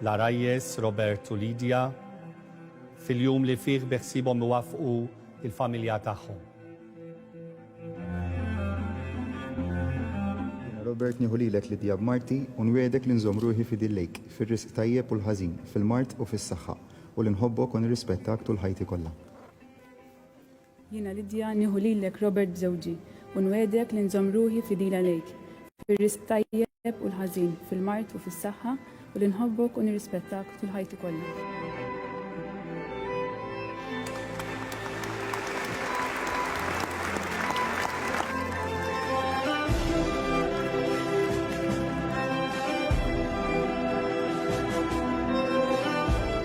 L-għarajjes Robert u Lydia fil-jum li fih beħsiebhom iwaffqu l-familja tagħhom. Jiena Robert nieħu lilek Lydia b'marti u nwiegħdek li nżomm ruħi fidil lejk fir-riżq tajjeb u l-ħażin, fil-mard u fis-saħħa, u li nħobbok u nirrispettak tul ħajti kollha. Jiena Lidja nieħu lilek Robert b'żewġi, u nwiegħdek li nżomm ruħi fidil għalejk, fir-risq tajjeb u l-ħażin, fil-mard u fis-saħħa, u li nħobbok u nirrispettak tul ħajti kollha.